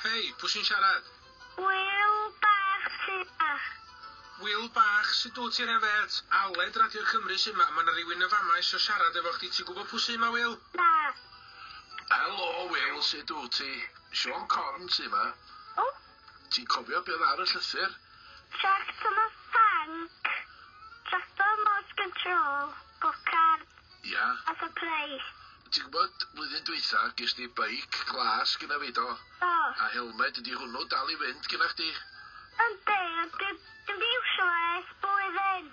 Hei, pwy sy'n siarad? Wil bach siach. Wil bach, sut dwyt ti'n hefyd? Aled Radio Cymru sy'n ma, mae yna rhywun yn fama eisiau siarad efo chdi, ti'n gwybod pwy sy'n ma, Wil? Na. Helo, Wil, sut dwyt ti? Sean Corn sy'n ma. O, Ti'n cofio be oedd ar y llythyr? Tractor ma thank. Tractor remote control. Go kart. Ia. A surprise. Ti'n gwybod, flwyddyn dwytha, ges di beic glas gyda fi, do? Do. A helmed, ydy hwnnw dal i fynd gyda chdi? Yndi, ond dwi ddim 'di iwsio fo ers blwyddyn.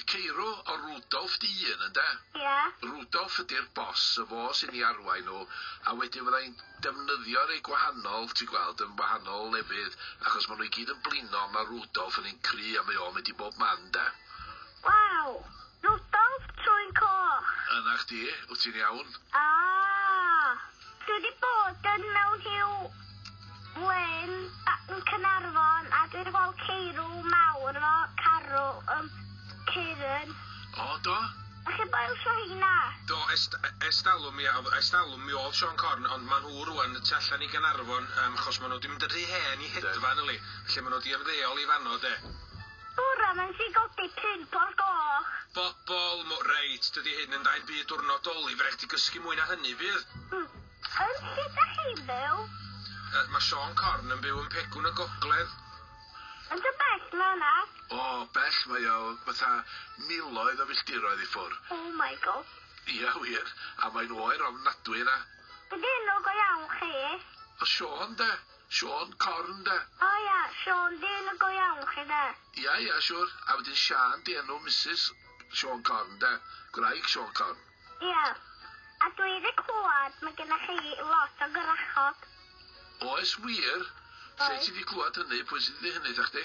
Y ceirw o Rudolf dy un, ynde? Ia. Rudolf ydi'r boss, y fo sy'n i arwain nhw, a wedyn fydda i'n defnyddio rei gwahanol, ti'n gweld, yn wahanol o lefydd, achos ma' nhw i gyd yn blino, ma' Rudolf yn ein cry a mae o'n mynd i bob man, ynde? Waw! Rudolf trwyn coch! Yna chdi, wt ti'n iawn? Aah! Dwi wedi bod yn mewn rhyw wên yn Caernarfon a dwi wedi gweld ceirw mawr efo carw yn Caerun. O, do? Dach chi'n boilsio heina? Do, es, es talwm, mi, es talwm mi oedd Sean Corn, ond maen nhw rwan y tu allan i Gaernarfon, um, chos maen nhw wedi mynd yn rhy hen i hedfan, yli. Felly maen nhw wedi ymddeol i fanno, de. Bore mae'n dy godi pump o'r gloch. Bobol, mo, reit, dydi hyn yn dda i'n byd dwrnod Doli, fe rhaid chdi gysgu mwy na hynny, fydd? Hm. Yn lle da chi'n byw? Yy, ma Siôn Corn yn byw yn Pegwn y Gogledd. Yn dy bell na na? O, bell, mae o fatha miloedd o filltiroedd i ffwr. Oh my gosh. Ia, wir, a mae'n oer ofnadwy yna. Be di enw go iawn chi? O, Siôn, de. Siôn, Corn 'de? O ia, Siôn, di enw go iawn chi 'de? Ia, ia, siwr. A wedyn Siân 'di enw Misus Siôn Corn 'de? Gwraig Siôn Corn. Ia. A dwi 'di clwad ma' genna chi lot o gwrachod. Oes wir? Lle ti 'di clwad hynny? Pwy sy 'di deu hynny 'tha chdi?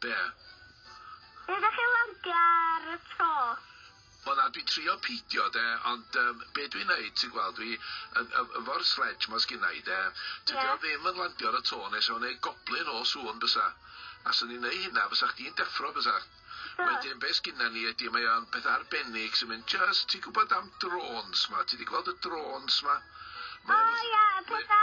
Be? Ydych chi'n landio ar y to? O na, dwi'n trio peidio 'de, ond yym be' dwi'n neud ti'n gweld dwi yn ef- efo'r sledge 'ma sgynna i 'de, tydi o ddim yn landio ar y to ne' sa fo'n neud goblyn o sŵn bysa, a swn i'n neu' hynna fysach chdi'n deffro bysach? Wedyn be' sgynna ni ydi mae o'n peth arbennig sy'n mynd jyst ti'n gwbod am drôns 'ma, ti 'di gweld y drôns 'ma? Mae o'n fath... O ia y petha